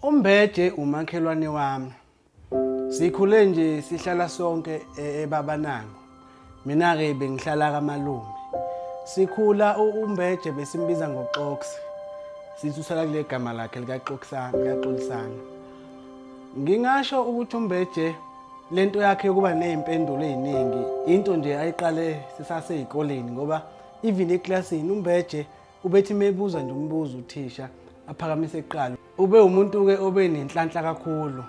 Umbeje umakhelwane wami. Sikhule nje sihlala sonke e- ebabanango. Mina ke bengihlala kamalume. Sikhula u- umbeje besimbiza ngoxoksi. Sithi usala kule gama lakhe likaxoksana, likaxolisana. Ngingasho ukuthi umbeje lento yakhe yokuba nezimpendulo eziningi into nje ayiqale sisaseyikoleni ngoba even eclassini umbeje Ubethi mebuza nje umbuzo uthisha aphakamise iqalo. Ube umuntu ke obe nenhlanhla kakhulu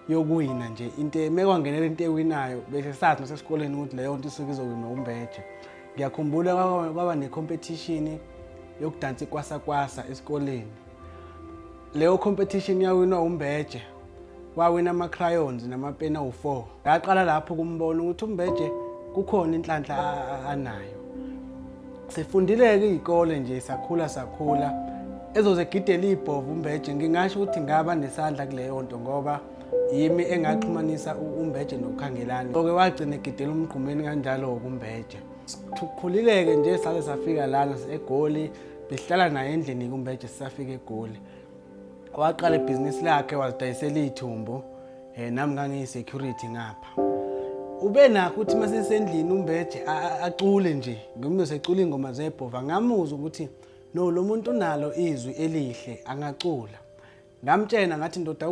yokuwina nje into mekwangena lento ewinayo bese sathi nasesikoleni ukuthi leyo nto isuke izowinwa umbeje. Ngiyakhumbula kwaba ne competition yokudansa ikwasa kwasa esikoleni. Leyo competition yawinwa uMbeje. Wawina ama-crayons namapeni awu-four. Ngaqala lapho kumbona ukuthi uMbeje kukhona inhlanhla anayo. Sifundile-ke iy'kole nje sakhula sakhula. Ezozegidela iy'bhovu uMbeje ngingasho ukuthi ngaba nesandla kuleyo nto ngoba yimi engaxhumanisa uMbeje noKhangelani. Oke wagcina egidela umgqumeni kanjalo-ke uMbeje. Sikhulile-ke nje sale safika lana eGoli. behlala naye endlini kumbeje sisafika egoli waqala ibhizinisi lakhe wazidayisela iy'thumbu um eh, nami ngangiyi-security ngapha ube nakho ukuthi uma sesendlini umbeje acule nje ngimno secula iy'ngoma zebhova ngamuzwa ukuthi no lo muntu unalo izwi elihle angacula ngamtshena ngathi ndoda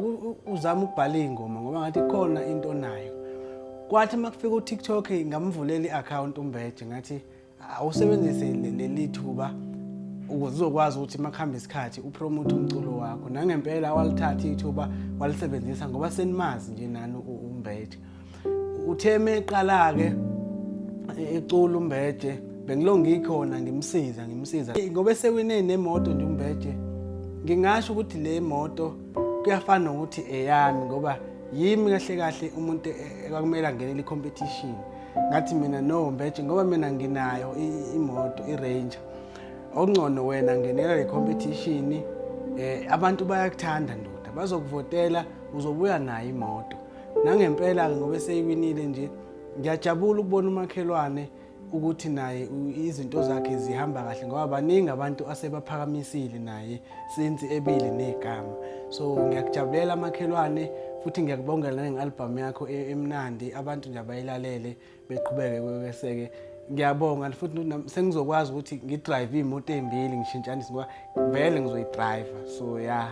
uzama ukubhala iy'ngoma ngoba ngathi khona into nayo kwathi uma kufika utiktok ngamvulela i-akhawunti umbeje ngathi awusebenzise leli thuba ukuze uzokwazi ukuthi uma kuhamba isikhathi upromote umculo wakho nangempela walithatha ithuba walisebenzisa ngoba senimazi nje nani umbethe uthe meqala-ke ecula umbethe bengilo ngikhona ngimsiza ngimsiza ngoba esewine nemoto nje umbethe ngingasho ukuthi le moto kuyafana nokuthi eyami ngoba yimi kahle kahle umuntu ekwakumele angenele i-competition ngathi mina no mbeje ngoba mina nginayo imoto i-ranger okungcono wena ngenela le competition eh abantu bayakuthanda ndoda bazokuvotela uzobuya nayo imoto nangempela-ke ngoba eseyiwinile nje ngiyajabula ukubona umakhelwane ukuthi naye izinto zakhe zihamba kahle ngoba baningi abantu asebaphakamisile naye since ebili negama so ngiyakujabulela makhelwane futhi ngiyakubongela nange-albhamu yakho e-, emnandi abantu nje abayilalele beqhubeke kweseke ngiyabonga futhi sengizokwazi ukuthi ngidrive iy'moto ey'mbili ngishintshanise ngoba vele ngizoyidrayiva so ya yeah.